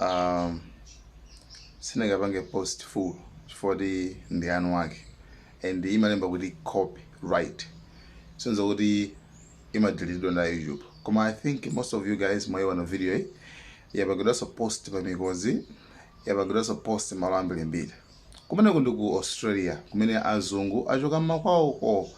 um, sindingapange post full chifukwa kuti ndi anu wake and imalemba kuti copyright zitanthauza kuti imadeleteedwa na youtube koma i think most of you guys mwaiona video iyi yapangidwanso post pa mikozi yapangidwanso post malo ambirimbiri kumeneko ndi ku australia kumene azungu achoka mmakwawoko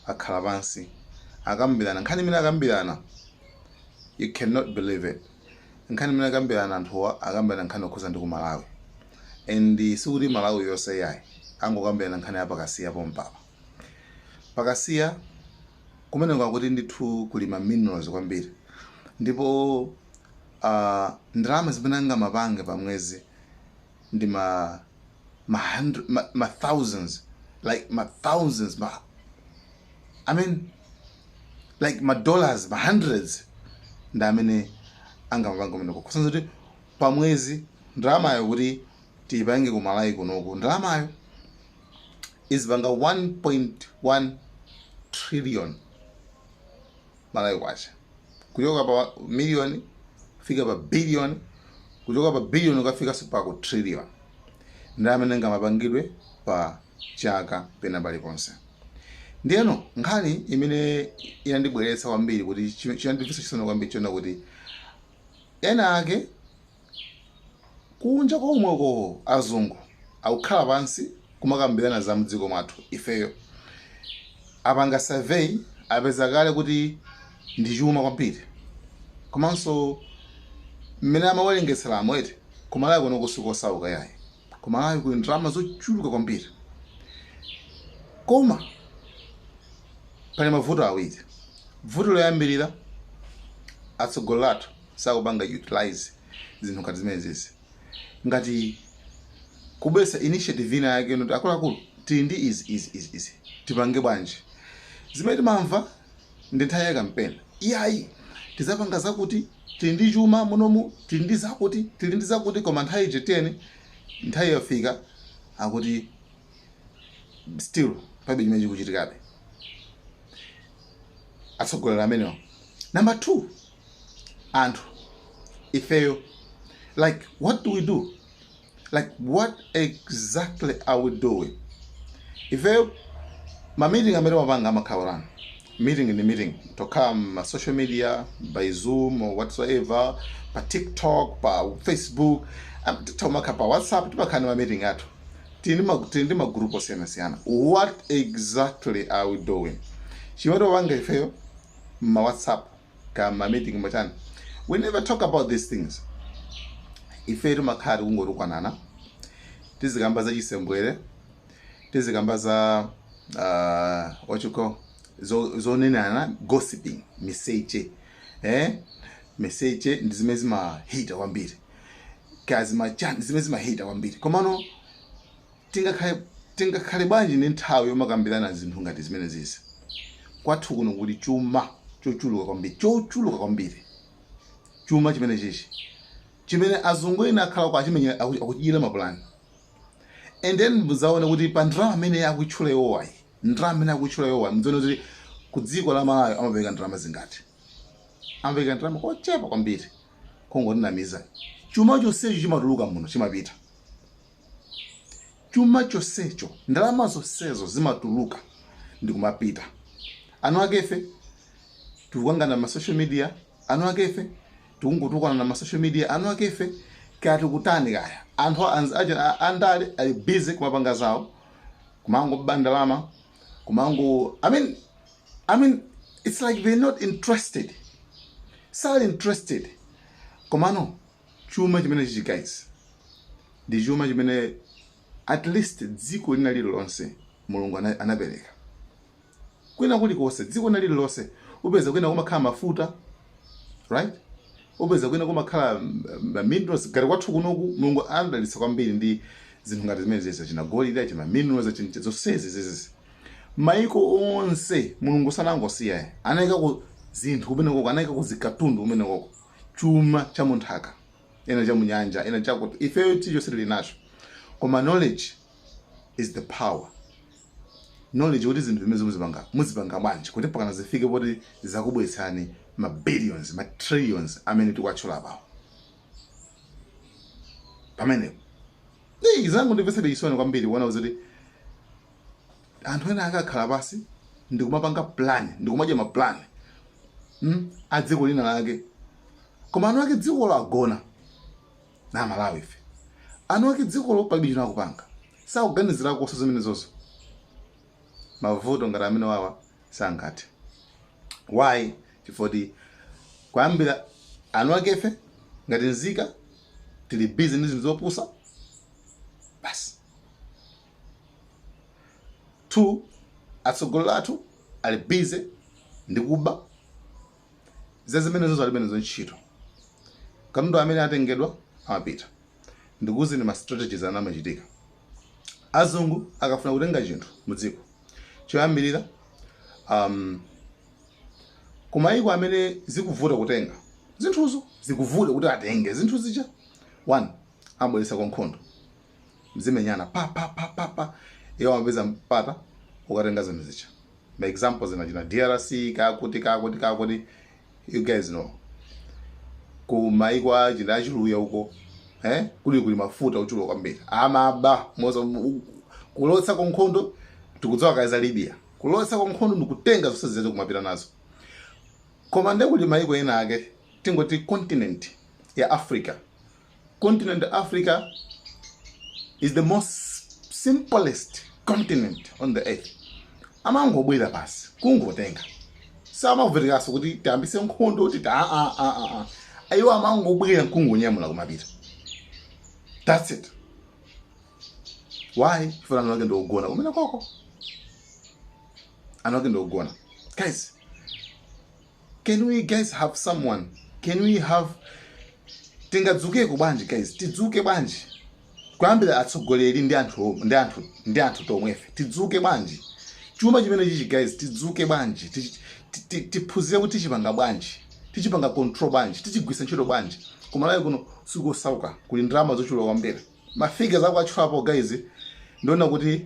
akhala pansi akambirana nkhani imene akambirana you cannot believe it Nkhani imene akambirana anthuwa akambirana nkhani yokhuza ndi ku Malawi and sikuti Malawi yonse iyayi angokambirana nkhani ya pa Kasiya pompapa. Pa Kasiya kumeneko akuti ndithu kuli ma minerals kwambiri ndipo uh, ndalama zimene angamapange pa mwezi ndi ma ma hundred ma, ma thousands like ma thousands ma i mean like ma dollars ma hundreds ndi zimene angamapanga kumeneko kutanthauza kuti pamwezi ndalamayo kuti tiyipange ku malawi kunoku ndalamayo izipanga 1.1 trillion malawi kwacha kuchoka pa million kukafika pa billion kuchoka pa billion kukafika pa ku trillion ndi imene ingamapangidwe pa chaka pena paliponse ndiyeno nkhani imene inandibweretsa kwambiri kuti chi- chinandimvetsa chisoni kwambiri chonena kuti ena ake kunja komweko azungu akukhala pansi kumakambirana za mdziko mwathu ifeyo apanga survey apeza kale kuti ndi chuma kwambiri komanso mmene amawerengetseramo eti kumalawi kunoko sikosauka yayi kumalawi kuli ndalama zochuluka kwambiri koma pali mavuto awiri vuto loyambirira atsogoleri athu sakupanga utilize zinthu ngati zimenezi ngati kubweretsa initiative ina yake yoti akuluakulu tili ndi izi izi izi izi tipange bwanji zimene timamva ndi nthawi ya kampeni iyayi tizapanga zakuti tili ndi chuma munomu tili ndi zakuti tili ndi zakuti koma nthawi ije tiyeni nthawi yafika akuti still palibe chimene chikuchitikabe atsogoleri amenewo number two anthu ifeyo like what do we do like what exactly are we doing ifeyo ma meeting amene timapanga amakhala ngati meeting ni meeting tokhala ma social media by zoom or whatsoever pa tiktok pa facebook am- timakhala pa whatsapp timakhala ni ma meeting athu tili ndi ma- tili ndi magroup osiyanasiyana what exactly are we doing chimene tikupanga ifeyo ma whatsapp ka ma meeting machani we never talk about these things ife timakhala tikungotukwanana tizikamba za chisembwere tizikamba za uh, what you call zo- zonenana gossiping miseche eh? miseche ndi zimene zimahita kwambiri kaya zimachani zimene zimahita kwambiri komano Tingakhale Tingakhale bwanji ndi nthawi yomakambirana zinthu ngati zimenezizi? Kwathu kuno kuli chuma chochuluka kwambiri, chochuluka kwambiri. Chuma chimenechichi, chimene azungu ena akhala uko achimenyera, aku- akuchidyera mapulani. And then mudzaone kuti pa ndalama imene akutchula iwowayi, ndalama imene akutchula iwowayi, mudzaone kuti ku dziko la Malawi amapereka ndalama zingati. Amapereka ndalama kochepa kwambiri, kungotinamiza. Chuma chonsecho chimatuluka muno, chimapita. chuma chonsecho ndalama zonsezo zimatuluka ndikumapita eni akefe tikukangana ma social media eni akefe tikungotukwanana ma social media eni akefe kaya tikutani kaya anthu anz- aja- a- andale ali busy kumapanga zawo kumangoba ndalama kumango i mean i mean it's like they're not interested sali interested komano Chuma chimenechichi guys ndi chuma chimene at least dziko lina lililonse mulungu ana- anapereka kwina kulikonse dziko lina lililonse upeza kwina kumakhala mafuta right upeza kwina kumakhala mm, ma minerals ngati kwathu kunoku mulungu anadalitsa kwambiri ndi zinthu ngati zimene zizi achina golide achina minerals achina zonsezi zizizi maiko onse mulungu sanangosiya anayika ku zinthu kumenekoko anayika ku zikatundu kumenekoko chuma cha munthaka ena cha munyanja ena chakuti ifeyo tonse tili nacho koma knowledge is the power knowledge kuti zinthu zimenezi muzipanga muzipanga bwanji kuti pakana zifike poti zakubweretserani ma billions ma trillions amene tikuwatchula apawo pamenepo Hey, zangu ndi zomvetsa chisoni kwambiri kuona kuti anthu ena akakhala pansi ndikumapanga plan ndikumadya ma plan mm, a dziko linalake koma eni ake dzikolo agona Amalawife eni ake dzikolo palibe chimene akupanga sakuganizirakonso zimenezozo mavuto ngati amenewawa sangathe why chifoti kuyambira eni akefe ngati nzika tili busy ndi zinthu zopusa basi 2 atsogoleri athu ali busy ndi kuba zazimenezozo alibe nazo ntchito katundu amene atengedwa amapita ndikuuzeni ma strategies ana amachitika azungu akafuna kutenga chinthu mu dziko choyambirira um, kumayiko amene zikuvuta kutenga zinthuzo zikuvuta kuti atenge zinthu zija one amabweretsako nkhondo mzimenyana pa pa pa pa pa iwo amapeza mpata wokatenga zinthu zija ma examples ina achina drc kakuti kakuti kakuti you guys know ku maiko achina achiluya uko eh kuli kuli mafuta ochuluka kwambiri amaba momwe kulowetsako nkhondo tikudziwa kale za libya kulowetsako nkhondo ndikutenga zonse zimene kumapita nazo koma nde kuli maiko ena ake tingoti continent ya africa continent Africa is the most simplest continent on the earth amangobwera basi kungotenga samavutikanso kuti tiyambitse nkhondo kuti ta ah, ah, ah, ah, ah. ayi iwo amangobwera nkungonyamula kumapita that's it why chifukwa anthu ake ndi ogona kumene koko anthu ake ndi ogona guys Can we guys have someone? Can we have tingadzukeko bwanji guys? Tidzuke bwanji? Kuyambira atsogoleri ndi anthu ndi anthu ndi anthu tomwefe. Tidzuke bwanji? Chuma chimene chichi guys tidzuke bwanji? Tichi- ti- ti- Tiphunzire kuti tichipanga bwanji? Tichipanga control bwanji? Tichigwiritsa ntchito bwanji? Kumalawi kuno sikosauka kuli ndalama zochuluka kwambiri. Mafigures akwachukapo guys ndiona kuti